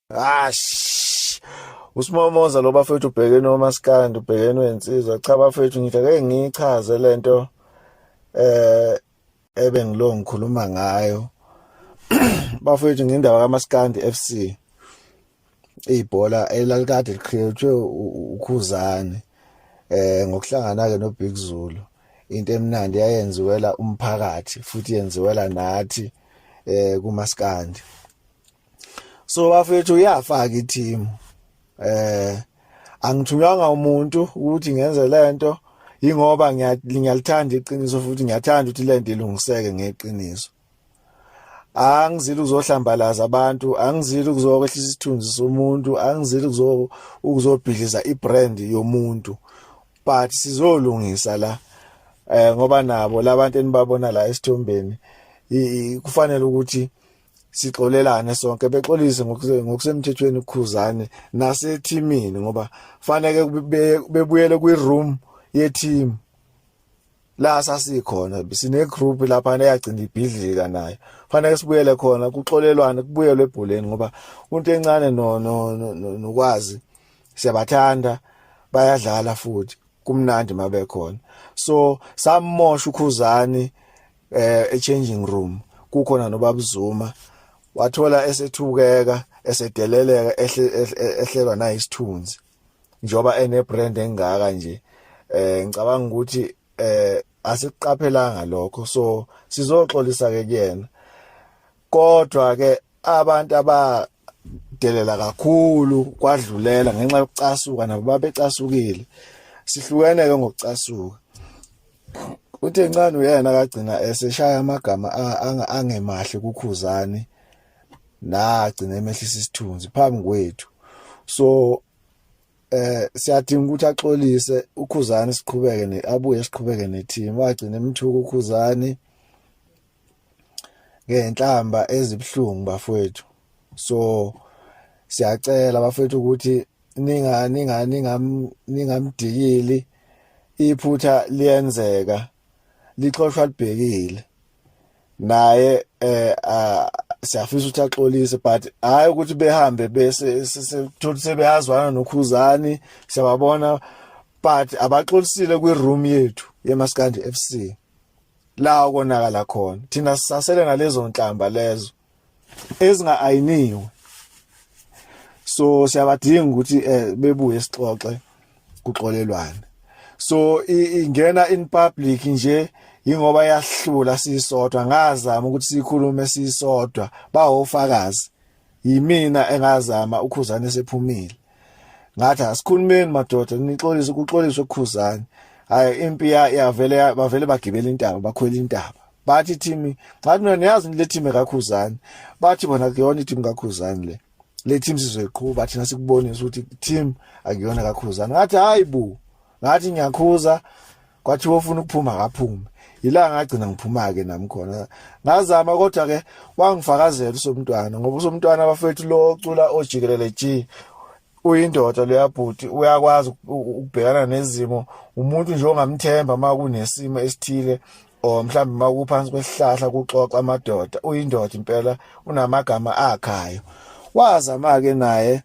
Ash. Usimomoza lo bafethu ubhekene omaskandi ubhekene wensizwa cha bafethu ngithe ke ngichaze lento eh ebengilo ngikhuluma ngayo bafethu ngindaba kaMaskandi FC ibhola elalikade liqhiyotshwe ukhuzane eh ngokuhlangana ke no Big Zulu into emnandi yayenziwela umphakathi futhi yenziwela nathi eh kumaskandi so bafethu uyafaka i-team eh angithunywanga umuntu ukuthi ngenze lento ingoba ngiyalithanda iqiniso futhi ngiyathanda ukuthi lento ilungiseke ngeqiniso angizile ukuzohlambalaza abantu angizile ukuzokwehlisa isithunzi somuntu angizile ukuzo ukuzobhidliza ibrand yomuntu but sizolungisa la eh ngoba nabo labantu enibabona la esithombeni kufanele ukuthi sixolelane sonke bexolise ngokusemthethweni ukhuzane nasethimini ngoba faneke bebuyele kwi room ye team la sasikhona sine group lapha neyagcina ibhidlika nayo fanele sibuyele khona kuxolelwane kubuyelwe ebholeni ngoba umuntu encane no nokwazi siyabathanda bayadlala futhi kumnandi mabekhona so samosha ukhuzani eh e changing room kukhona nobabuzuma wathola esethukeka esedeleleka ehlelwa nayisithunzi njoba ene brand engaka nje eh ngicabanga ukuthi eh asiqaphelanga lokho so sizoxolisa ke kuyena kodwa ke abantu aba delela kakhulu kwadlulela ngenxa yokucasuka nabo babecasukile sihlukene ke ngokucasuka uthe ncane uyena kagcina eseshaya amagama angemahle kukhuzani nagcina emehlisa isithunzi phambi kwethu so eh siyadinga ukuthi axolise ukhuzani siqhubeke ne abuye siqhubeke ne team wagcina emthuka ukhuzani ngenhlamba ezibhlungu bafowethu so siyacela bafowethu ukuthi ninga ninga ningam ningamdikili iphutha liyenzeka lixoshwa libhekile naye eh siyafisa ukuthi axolise but hayi ukuthi behambe bese sithola sebeyazwana nokhuzani siyababona but abaxolisile kwi room yethu yemaskandi FC la konakala khona thina sisasele nalezo nhlamba lezo ezinga ayiniwe so siyabadinga ukuthi eh, bebuye sixoxe kuxolelwane so ingena in public nje ingoba yahlula sisodwa ngazama ukuthi sikhulume sisodwa bawofakazi yimina engazama ukhuzane sephumile ngathi asikhulumeni madoda nixolise ukuxolisa ukukhuzane hayi impi yavele bavele bagibela intaba bakhwela intaba bathi team ngathi mina niyazi le team kakhuzani bathi bona kuyona i team kakhuzani le le team sizoyiqhuba thina sikubonisa ukuthi team akuyona kakhuzani ngathi hayi bu ngathi ngiyakhuza kwathi wofuna ukuphuma akaphume yila ngagcina ngiphuma ke nami khona ngazama kodwa ke wangifakazela usomntwana ngoba usomntwana abafethu lo ocula ojikelele G uyindoda leyabhuti uyakwazi ukubhekana nezimo umuntu nje ongamthemba uma kunesimo esithile or mhlawumbe uma kuphansi kwesihlahla kuxoxa amadoda uyindoda impela unamagama akhayo wazama-ke naye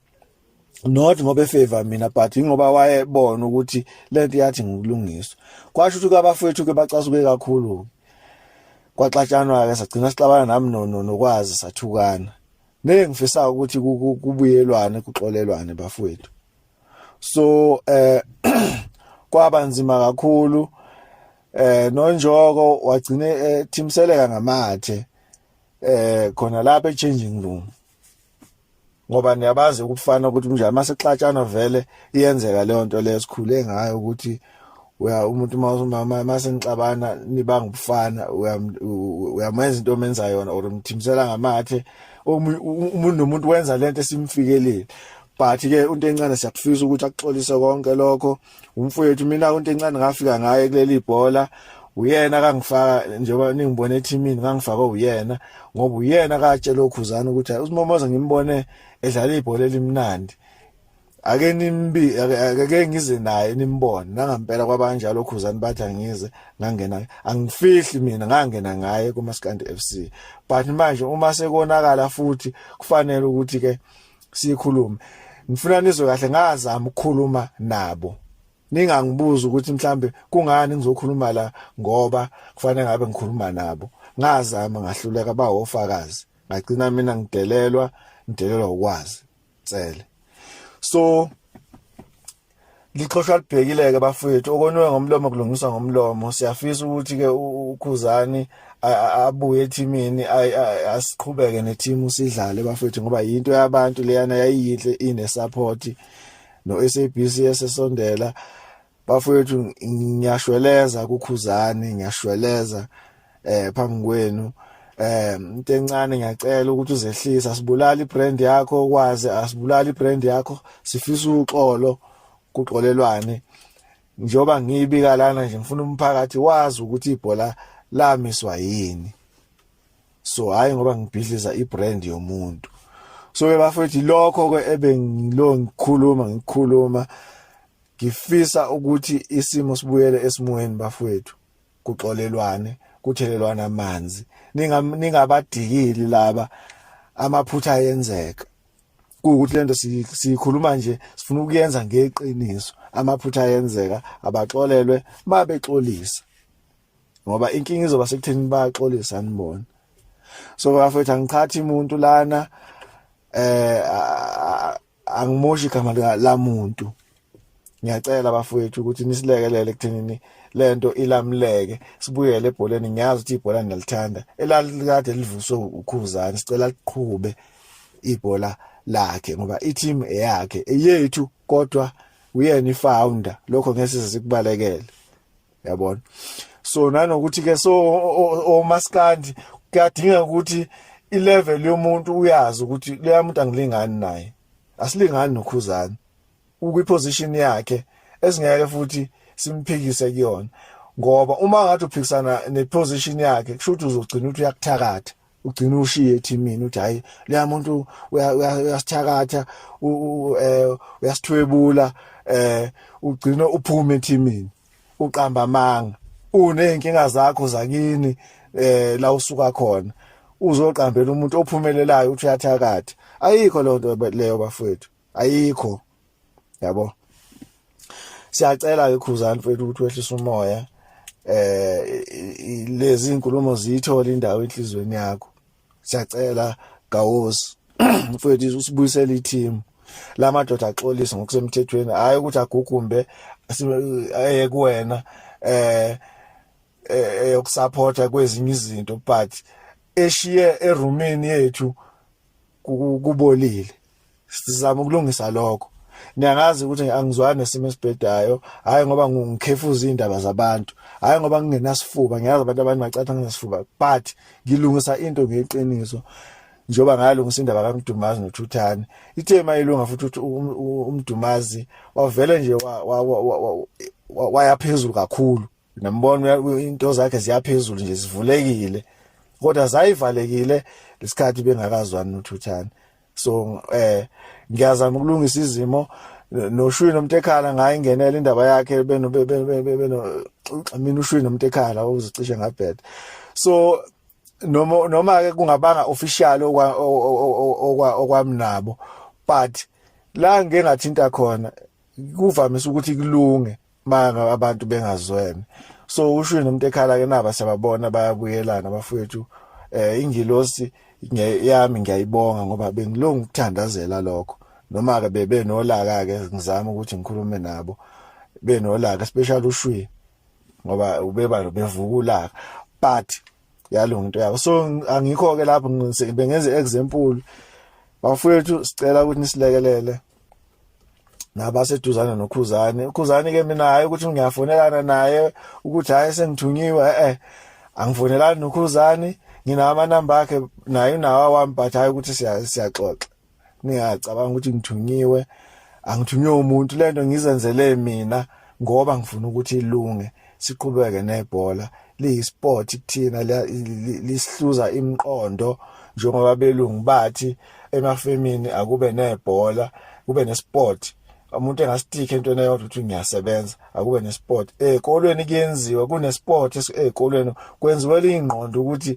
not ngoba efavor mina but ingoba wayebona ukuthi lento yathi ngokulungiswa kwasho ukuthi abafowethu ke bacasuke kakhulu kwaxatshanwa ke sagcina sixabana nami no nokwazi sathukana ngeke ngifisa ukuthi kubuyelwane kuxolelwane bafowethu so eh kwaba nzima kakhulu eh nonjoko wagcine ethimseleka eh, ngamathe eh khona lapha echanging room ngoba niyabazi ukufana ukuthi mnjani masexatshana vele iyenzeka leyo nto leyo sikhule ngayo ukuthi uya umuntu mawumama masenixabana nibanga ubufana uyamenza into omenza yona or umthimsela ngamathe umuntu nomuntu wenza lento esimfikelile but ke unto encane siyakufisa ukuthi akuxolise konke lokho umfowethu mina unto encane ngafika ngaye kuleli bhola uyena kangifaka njengoba ningibone ethimini ngangifakwe uyena ngoba uyena katshela okhuzana ukuthi usimomoza ngimbone edlala ibhola elimnandi ake nimbi ake ngize naye nimbone nangampela kwabanjalo khuzani bathi angize ngangena angifihli mina ngangena ngaye kumaskandi FC but manje uma sekonakala futhi kufanele ukuthi ke sikhulume ngifuna nizwe kahle ngazama ukukhuluma nabo ningangibuza ukuthi mhlambe kungani ngizokhuluma la ngoba kufanele ngabe ngikhuluma nabo ngazama ngahluleka bawofakazi ngagcina mina ngidelelwa ngidelelwa ukwazi Cele. So lixhoshwa libhekile ke bafowethu okonwe ngomlomo kulungiswa ngomlomo siyafisa ukuthi ke ukhuzani abuye ethimini asiqhubeke nethimu sidlale bafethu ngoba yinto yabantu leyana yayiyinhle ine support no SABC esesondela bafowethu ngiyashweleza kukhuzani ngiyashweleza eh phambi kwenu eh into encane ngiyacela ukuthi uzehlisa asibulali brand yakho kwazi asibulali brand yakho sifisa uxolo kuxolelwane njoba ngiyibika lana nje ngifuna umphakathi wazi ukuthi ibhola lamiswa yini so hayi ngoba ngibhidliza ibrand yomuntu so bafethu lokho ke ebengilo ngikhuluma ngikhuluma Ngifisa ukuthi isimo sibuyele esimweni bafowethu kuxolelwane kuthelelwana amanzi ningabadikili laba amaphutha ayenzeka kuwukuthi lento siyikhuluma nje sifuna ukuyenza ngeqiniso amaphutha ayenzeka abaxolelwe mabexolisa ngoba inkinga izoba sekutheni baxolisa anibona so bafethu angichathi umuntu lana eh angimoshi igama lamuntu ngiyacela bafowethu ukuthi nisilekelele ekuthenini lento ilamleke sibuyele ebholeni ngiyazi ukuthi ibhola niyalithanda elalikade livuswe ukhuzani sicela liqhube ibhola lakhe ngoba i-team eyakhe eyethu kodwa uyena i-founder lokho ngeke size sikubalekele yabona so nanokuthi ke so omaskandi kuyadinga ukuthi ilevel yomuntu uyazi ukuthi leya muntu angilingani naye asilingani nokhuzana ukwi position yakhe esingeke futhi simphikise kuyona ngoba uma ngathi uphikisana ne position yakhe kusho ukuthi uzogcina ukuthi uyakuthakatha ugcina ushiye ethimini uthi hayi leya muntu uyasithakatha eh, uyasithwebula eh ugcina uphuma ethimini uqamba amanga uneyinkinga zakho zakini eh la usuka khona uzoqambela umuntu ophumelelayo uthi uyathakatha ayikho lonto leyo bafowethu ayikho yabo siyacela ke khuzani mfethu ukuthi wehlise umoya eh lezi inkulumo ziyithola indawo enhlizweni yakho siyacela gawosi mfowethu usibuyisele i-team la madoda axolise ngokusemthethweni hhayi ukuthi agugumbe eye kuwena eh eyokusapotha eh, eh, kwezinye izinto but eshiye erumini yethu kubolile sizama ukulungisa lokho niyangazi ukuthi angizwani nesimo esibhedayo hayi ngoba ngikhefuza indaba zabantu hayi ngoba ngingenasifuba ngiyazi abantu abanye bacatha nginesifuba but ngilungisa into ngeqiniso njengoba ngayalungisa indaba kaMdumazi noThuthane ithe mayilunga futhi ukuthi um, um, uMdumazi wavele nje wayaphezulu kakhulu nambona into zakhe ziyaphezulu nje zivulekile kodwa zayivalekile lesikhathi bengakazwani noThuthane so eh ngiyazama ukulungisa izimo noshwini nomtekhala ngaye ingenela indaba yakhe beno beno mina ushwini nomtekhala uzicishe ngabheda so noma noma ke kungabanga official okwa okwa okwamnabo but la ngeke ngathinta khona kuvamise ukuthi kulunge banga abantu bengazwene so usho nomuntu ekhala ke naba siyababona bayabuyelana bafowethu eh ingilosi yami ngiyayibonga ngoba bengilungu ukuthandazela lokho noma ke bebe nolaka ke ngizama ukuthi ngikhulume nabo benolaka special ushwi ngoba ubeba bevukulaka but yalunga into yabo so angikho ke lapho bengenze example bafowethu sicela ukuthi nisilekelele nabaseduzane nokhuzane ukhuzane ke mina hayi ukuthi ngiyafonelana naye ukuthi hayi sengithunyiwe eh angifonelani nokhuzane nginawo amanamba akhe naye unawa wami but hayi ukuthi siyaxoxa ningacabanga ukuthi ngithunyiwe angithunywe umuntu lento ngizenzele mina ngoba ngifuna ukuthi ilunge siqhubeke nebhola liyisport kuthina lisihluza imiqondo njengoba belungu bathi emafemini akube nebhola kube nesport umuntu engasitiki entweni eyodwa ukuthi ngiyasebenza akube nesport ezikolweni kuyenziwa kunesport ezikolweni kwenziwe lingqondo ukuthi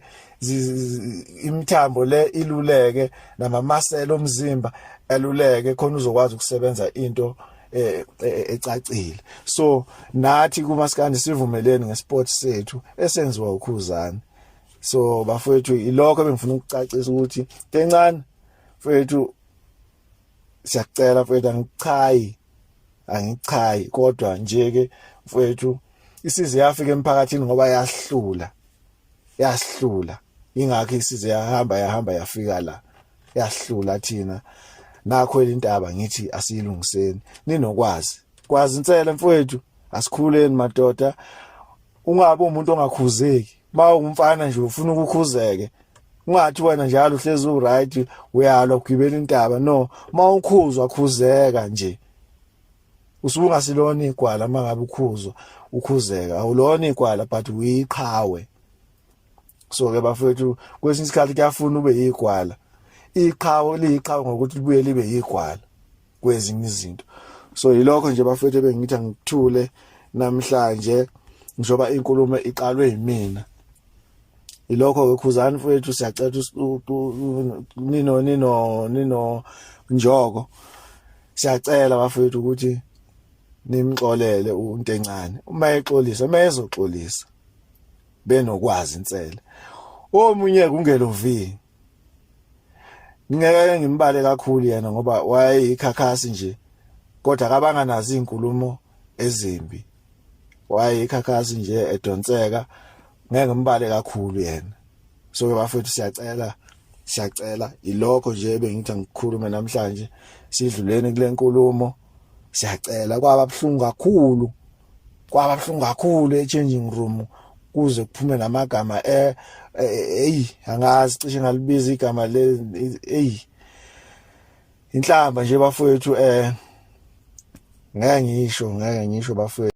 imithambo le iluleke namamasela omzimba eluleke khona uzokwazi ukusebenza into eh, eh, ecacile so nathi kumaskandi sivumeleni ngesport sethu esenziwa ukhuzani so bafethu ilokho ebengifuna ukucacisa ukuthi tencane mfethu siyacela mfethu angichayi angichayi kodwa nje ke mfethu isize yafika emphakathini ngoba yahlula yasihlula ingakho isize yahamba yahamba yafika la yasihlula thina nakho elintaba ngithi asiyilungiseni ninokwazi kwazi insela mfowethu asikhuleni madoda ungabe umuntu ongakhuzeki ba umfana nje ufuna ukukhuzeke ungathi wena njalo uhlezi uright uyalwa ugibela intaba no mawukhuzwa khuzeka nje usuke ungasilona igwala uma ngabe ukhuzwa ukhuzeka awulona igwala but uyiqhawe so ke bafethu kwesinye isikhathi kuyafuna ube yigwala iqhawe liyiqhawe ngokuthi libuye libe yigwala kwezinye izinto so yilokho nje bafethu bengithi angithule namhlanje njoba inkulumo iqalwe yimina ilokho ke khuzani mfowethu siyacela nino nino nino njoko siyacela bafowethu ukuthi nimxolele umuntu encane uma exolisa uma ezoxolisa benokwazi insele omunye kungelovi ngeke ngimbale kakhulu yena ngoba wayeyikhakhasi nje kodwa kabanganazi izinkulumo ezimbi wayekhakhasi nje edonseka ngeke mbale kakhulu yena so bafethu siyacela siyacela ilokho nje bengithi angikhulume namhlanje sidluleni kule nkulumo siyacela kwaba buhlungu kakhulu kwaba buhlungu kakhulu e-changing room kuze kuphume namagama eh hey angazi cishe ngalibiza igama le hey inhlamba nje bafowethu eh ngeke ngisho ngeke ngisho bafowethu